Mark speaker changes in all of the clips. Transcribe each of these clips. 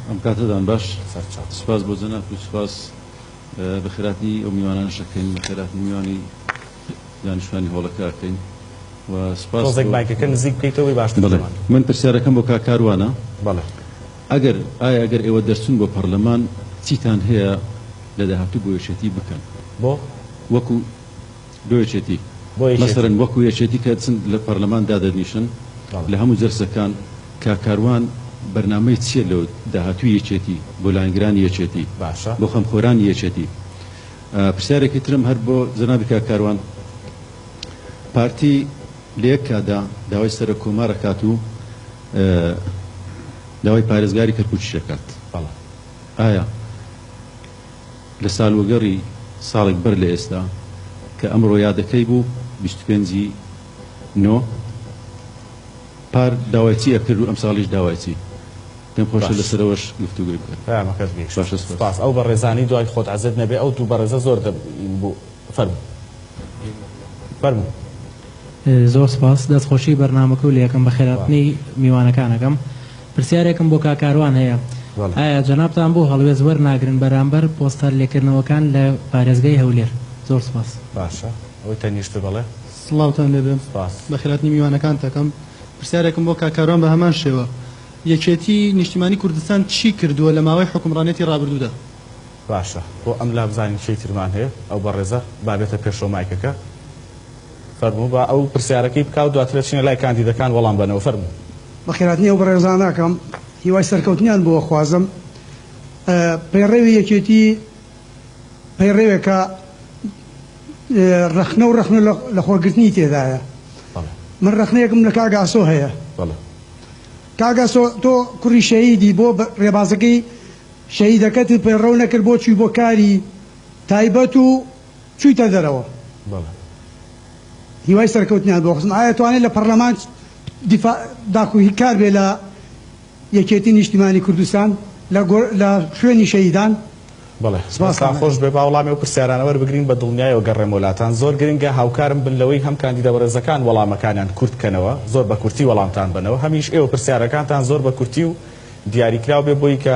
Speaker 1: ئەم کاتەدان باش سپاس بۆ جەناب و سپاس بە خراپی ئەو میوانان شەکەین بە خراپی میوانی دانیشتوانی هۆڵەکەکەین و سپاس بایکەکە نزیک بکەیتەوەی
Speaker 2: باش من پرسیارەکەم
Speaker 1: بۆ کاکاروانە ئەگەر ئایا ئەگەر ئێوە دەرچون بۆ پەرلەمان چیتان هەیە لە داهاتوو بۆ یەشێتی بکەن بۆ
Speaker 2: وەکو
Speaker 1: بۆ یەکێتی بۆ یەکێتی. مەسەلەن وەکو یەکێتی کە دەچن لە پەرلەمان دادەنیشن بەڵێ. لە هەموو جەلسەکان کاک کاروان بەرنامەی چیە لۆ داهاتووی یەکێتی بۆ لایەنگرانی یەکێتی باشە. بۆ خەمخۆرانی یەکێتی؟ پرسیارێکی ترم هەر بۆ جەنابی کاک کاروان پارتی لە یەک کاتدا داوای سەرۆک کۆمار ئەکات و داوای پارێزگاری کەرکوکیش ئەکات بەڵێ. ئایا. لە سالوەگەڕی ساڵێک بەر لە ئێستا کە ئەمڕۆ یادەکەی بوو بیست و پێنج ی نۆ پار داوای چی ئەکرد و ئەمساڵیش داوای چی؟ پێم خۆشە باش لەسەرەوەش گفتوگۆی بکەن. پەیامەکەت گەیشت باشە سپاس. سوپاس ئەو
Speaker 2: بەڕێزانەی دوای خۆت عەزێت نەبێ ئەو دوو بەڕێزە زۆر دەبین بوو. فەرموو فەرموو.
Speaker 3: زۆر سپاس دەست خۆشی بەرنامەکە و لەیەکەم بەخێراتنی میوانەکانەکەم پرسیارێکم بۆ کا کاروان هەیە ئایا جەنابتان بۆ هەڵوێز وەرناگرن بەرامبەر پۆستەر لێکردنەوەکان لە پارێزگای هەولێر زۆر سپاس باشە ئەوەی
Speaker 2: تەنیشت بەڵێ سڵاوتان لێ بێ
Speaker 4: بەخێراتنی میوانەکانتەکەم پرسیارێکم بۆ کا کاروان بە هەمان شێوە یەکێتی نیشتیمانی کوردستان چی کردووە لە ماوەی حکومڕانێتی ڕابردوودا باشە
Speaker 2: بۆ ئەم لابزانین کێی ترمان هەیە ئەو بەڕێزە با بێتە پێشەوە مایکەکە فەرموو با ئەو پرسیارەکەی بکا و دواتر ئەچینە لای کاندیدەکان وەڵام بەنەوە فەرموو. بەخێرهاتنی ئەو
Speaker 5: بەڕێزانە ئەکەم هیوای سەرکەوتنیان بۆ ئەخوازم پەیڕەوی یەکێتی پەیڕەوێکە ڕەخنەو ڕەخنە لەخۆگرتنی تێدایە من ڕەخنەیەکم لە کاک ئاسۆ هەیە کاک ئاسۆ تۆ کوڕی شەهیدی بۆ ڕێبازەکەی شەهیدەکەت و پەیڕەو نەکرد بۆ چوی بۆ کاری تایبەت و چویتە دەرەوە بەڵێ. هیوای سەرکەوتنیان بۆ خزم ئایا توانێ لە پەڕلەمان دیفاع داخو هی کار بێ لە یەکێتی نیشتیمانی کوردستان لە گۆ لە شوێنی شەهیدان بەڵێ. دەستتان
Speaker 2: سپاستان خۆش بێ با وەڵامی ئەو پرسیارانە وەربگرین بە دڵنیایەوە گەڕێمەوە لاتان زۆر گرنگە هاوکارم بن لەوەی هەم کاندیدە بەڕێزەکان وەڵامەکانیان کورت کەنەوە زۆر بە کورتی وەڵامتان بەنەوە هەمیش ئێوە پرسیارەکانتان زۆر بە کورتی و دیاریکراو بێ بۆی کە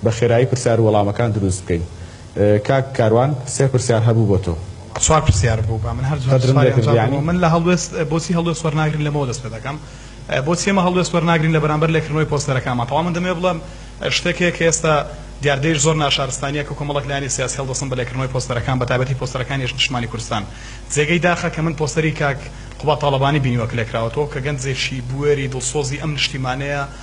Speaker 2: بە خێرایی پرسیار و وەڵامەکان دروست بکەین کاک کاروان سێ پرسیار هەبوو بۆ تۆ. چوار پرسیار بوو
Speaker 6: با من هەر چوار پرسیاری ئەنجام دەمەوە من لە هەڵوێست بۆچی هەڵوێست وەرناگرین لەمەوە دەست پێ دەکەم بۆچی ئێمە هەڵوێست وەرناگرین لە بەرامبەر لێکردنەوەی پۆستەرەکانمان تەوا من دەمەوێ بڵێم شتێک هەیە کە ئێستا دیاردەیش زۆر ناشارستانیە کە کۆمەڵێک لایەنی سیاسی هەڵدەستن بە لێکردنەوەی پۆستەرەکان بە تایبەتی پۆستەرەکانی یەش نیشتمانی کوردستان جێگەی داخە کە من پۆستەری کاک قوباد تاڵەبانی بینیوە کە لێکراوەتەوە کە گەنجێکی بوێری دڵسۆزی ئەم نیشتیمانەیە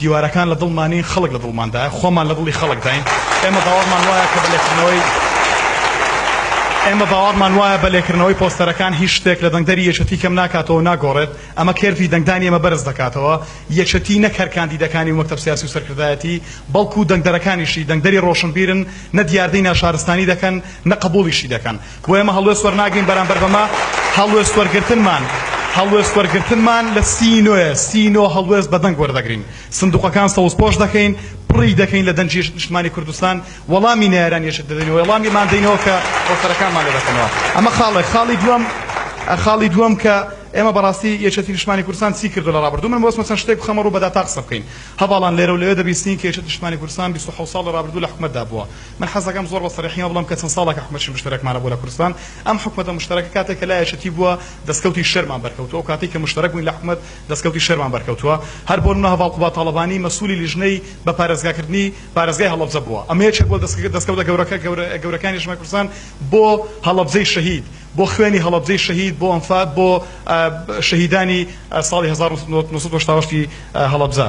Speaker 6: دیوارەکان لە دڵمان نین، خەڵک لە دڵماندایە، خۆمان لە دڵی خەڵکداین، ئێمە باوەڕمان وایە کە بە لێکردنەوەی ئێمە باوەڕمان وایە بە لێکردنەوەی پۆستەرەکان هیچ شتێک لە دەنگدەری یەکێتی کەم ناکاتەوە و ناگۆڕێت، ئەمە کێرڤی دەنگدانی ئێمە بەرز دەکاتەوە، یەکێتی نەک هەر کاندیدەکانی و مەکتەب سیاسی و سەرکردایەتی، بەڵکو دەنگدەرەکانیشی دەنگدەری ڕۆشنبیرن، نە دیاردەی ناشارستانی دەکەن، نە قبوڵیشی دەکەن. بۆ ئێمە هەڵوێست وەرناگرین بەرامبەر بەمە، هەڵوێست وەرگرتنمان هەڵوێست وەرگرتنمان لە سی نۆیە، سی نۆ هەڵوێست بە دەنگ وەردەگرین، سندوقەکان سەوزپۆش دەکەین، پڕی دەکەین لە دەنگی یەشت نیشتمانی کوردستان، وەڵامی نەیارانی یەشت دەدەینەوە، وەڵامیمان دەینەوە کە پۆستەرەکانمان لێ دەکەنەوە. ئەمە خاڵێک، خاڵی دووەم خاڵی دووەم کە ئێمە بەڕاستی یەکێتی نیشتمانی کوردستان چی کردووە لە ڕابردوو، من مەبەستمە چەند شتێک بخەمە ڕوو بە داتا قسە بکەین، هەڤاڵان لێرە و لەوێ دەبیستین کە یەکێتی نیشتمانی کوردستان بیست و حەوت ساڵ لە ڕابردوو لە حکومەتدا بووە، من حەزدەکەم زۆر بە سەریحییەوە بڵێم کە چەند ساڵێکە حکومەتیی مشتەرەکمان هەبووە لە کوردستان. ئەم حکومەتە مشتەرەکە کاتێک کە لایەشێتی بووە، دەستکەوتی شەرمان بەرکەوتووە. ئەو کاتەی کە مشتەرەک بووین لە حکومەت، دەستکەوتی شەرمان بەرکەوتووە. هەر بۆ نموونە هەڤاڵ قوباد تاڵەبانی مەسوولی لیژنەی بە پارێزگاکردنی پارێزگای هەڵەبجە بووە. ئەمە یەکێک بووە لە دەستکەوتە گەورەکە گەورەکانی نیشتمانی کوردستان بۆ هەڵەبجەی شەهید، بۆ خوێنی هەڵەبجەی شەهید، بۆ ئەنفال، بۆ شەهیدانی ساڵی هەزار و نۆ سەد و هەشتا و هەشت ی هەڵەبجە.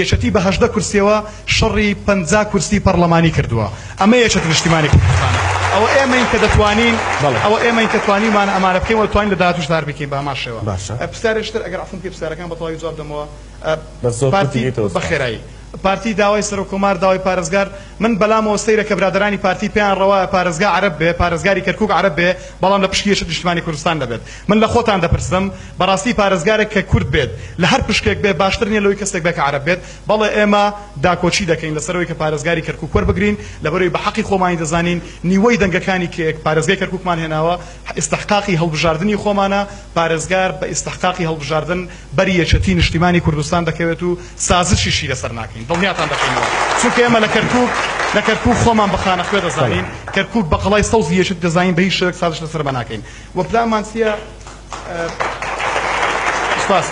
Speaker 6: یەکێتی بە هەژدە کورسیەوە شەڕی پەنجا کورسی پەڕڵەمانی کردووە ئەمە یەکێتی نیشتیمانی کوردستانە ئەوە ئێمەین کە دەتوانین ئەوە ئێمەین کە توانیومانە ئەمانە بکەین وە دەتوانین لە داهاتووش هەر بکەین بە هەمان شێوە باشە پرسیارێکش تر ئەگەر عەفوم کەی پرسیارەکان بە تەواوی جواب دەمەوە بەس زۆر کورتی پارتی کەیتەوە سوپاس بەخێرایی پارتی داوای سەرۆک کۆمار داوای پارێزگار من بەلامەوە سەیرە کە برادەرانی پارتی پێیان ڕەوایە پارێزگا عەرەب بێ پارێزگاری کەرکوک عەرەب بێ بەڵام لە پشکی یەکێتی نیشتیمانی کوردستان نەبێت من لە خۆتان دەپرسم بەڕاستی پارێزگارێک کە کورد بێت لە هەر پشکێک بێ باشتر نیە لەوەی کەسێک بێ کە عەرەب بێت؟ بەڵێ ئێمە داکۆکی دەکەین لەسەر ئەوەی کە پارێزگاری کەرکوک وەربگرین لەبەرەوەی بە حەقی خۆمانی دەزانین نیوەی دەنگەکانی کە پارێزگای کەرکوکمان هێناوە ئیستحقاقی هەڵبژاردنی خۆمانە پارێزگار بە ئیستحقاقی هەڵبژاردن بەری یەکێتی نیشتیمانی کوردستان دەکەوێت و سازشیشی لەسەر ناکەین دڵنیاتان دەکەینەوە چونکە ئێمە لە کەرکوک لە کەرکوک خۆمان بە خانەخوێ دەزانین کەرکوک بە قەڵای سەوزی یەکێتی دەزانین بە هیچ شێوەیەک سازش لەسەر بە ناکەین وە پلانمان چیە سوپاس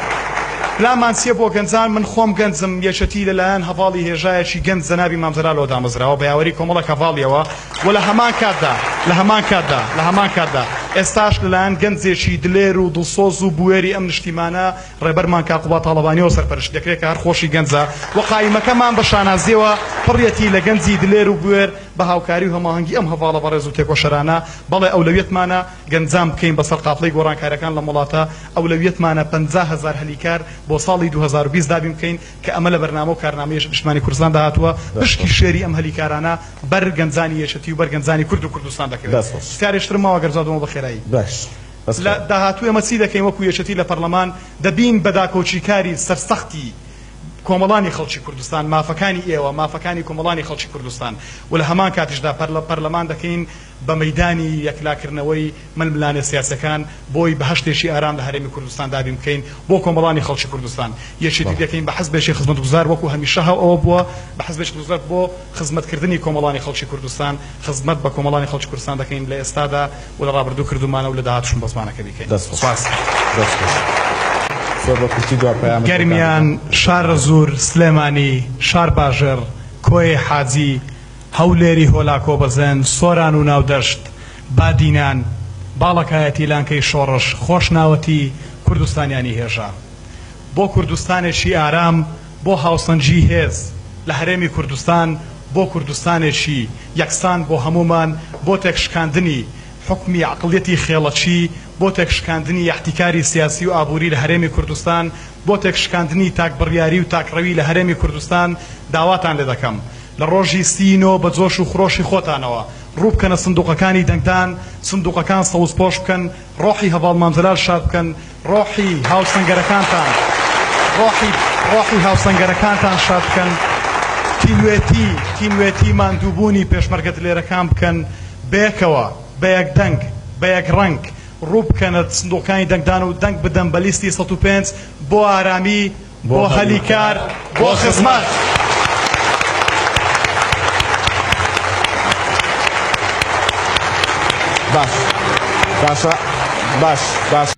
Speaker 6: پلانمان چیە بۆ گەنجان من خۆم گەنجم یەکێتی لەلایەن هەڤاڵی هێژایەکی گەنج جەنابی مام جەلالەوە دامەزراوە بە یاوەری کۆمەڵێک هەڤاڵیەوە و لە هەمان کاتدا لە هەمان کاتدا لە هەمان کاتدا ئێستاش لەلایەن گەنجێکی دلێر و دڵسۆز و بوێری ئەم نیشتیمانە ڕێبەرمان کاک قوباد تاڵەبانیەوە سەرپەرشتی دەکرێت کە هەر خۆشی گەنجە و قایمەکەمان بە شانازیەوە پڕیەتی لە گەنجی دلێر و بوێر بە هاوکاری و هەماهەنگی ئەم هەڤاڵە بەڕێز و تێکۆشەرانە، بەڵێ ئەولەویەتمانە گەنجان بکەین بەسەر قافڵەی گۆڕانکاریەکان لەم وڵاتە، ئەولەویەتمانە پەنجا هەزار هەلی کار بۆ ساڵی دوو هەزار و بیست دابین بکەین کە ئەمە لە بەرنامە و کارنامەی یەکێتی نیشتمانی کوردستاندا هاتووە، پشکی شێری ئەم هەلی کارانە بەر گەنجانی یەکێتی و بەر گەنجانی کورد و کوردستان دەکەوێت. پرسیارێک ترم ماوە گەر جواب دەمەوە بە خێرایی. لە داهاتوو ئێمە چی دەکەین وەکو یەکێتی لە پەرلەمان دەبین بە داکۆکیکاری سەرسەختی کۆمەڵانی خەڵکی کوردستان، مافەکانی ئێوە، مافەکانی کۆمەڵانی خەڵکی کوردستان و لە هەمان کاتیشدا پەرلەمان دەکەین بە مەیدانی یەکلاکردنەوەی ململانێ سیاسیەکان بۆی بەهەشتێکی ئارام لە هەرێمی کوردستان دابین بکەین بۆ کۆمەڵانی خەڵکی کوردستان یەکێتی دەکەین بە حزبێکی خزمەتگوزار وەکو هەمیشە هەوە بووە بە حزبێکی خزمەت بۆ خزمەت کردنی کۆمەڵانی خەڵکی کوردستان خزمەت بە کۆمەڵانی خەڵکی کوردستان دەکەین لە ئێستادا و لە ڕابردوو کردوومانە و لە داهاتووشم بە زمانەکە بیکەین سپاس. گەرمیان، شارەزوور، سلێمانی، شارباژێڕ، کۆیەی حاجی، هەولێری هۆلاکۆ بەزێن، سۆران و ناودەشت، بادینان، باڵەکایەتی لانکەی شۆڕش، خۆشناوەتی کوردستانیانی هێژا. بۆ کوردستانێکی ئارام. بۆ هاوسەنگی هێز لە هەرێمی کوردستان، بۆ کوردستانێکی یەکسان بۆ هەموومان، بۆ تێکشکاندنی حوکمی عەقڵیەتی خێڵەکی، بۆ تێکشکاندنی یەحتیکاری سیاسی و ئابووری لە هەرێمی کوردستان، بۆ تێکشکاندنی تاک بڕیاری و تاکڕەوی لە هەرێمی کوردستان داواتان لێ دەکەم لە ڕۆژی سی ی نۆ بە جۆش و خرۆشی خۆتانەوە ڕووبکەنە سندوقەکانی دەنگدان، سندوقەکان سەوزپۆش بکەن، ڕۆحی هەڤاڵ مام جەلال شاد بکەن، ڕۆحی هاوسەنگەرەکانتان ڕۆحی ڕۆحی هاوسەنگەرەکانتان شاد بکەن تینوێتی تینوێتی ماندووبوونی پێشمەرگە دلێرەکان بکەن بەیەکەوە بەیەک دەنگ بەیەک ڕەنگ ڕوو بکەنە سندوقەکانی دەنگدان و دەنگ بدەن بە لیستی سەد و پێنج بۆ ئارامی بۆ هەلی کار بۆ خزمەت. باش باشە باش
Speaker 2: باش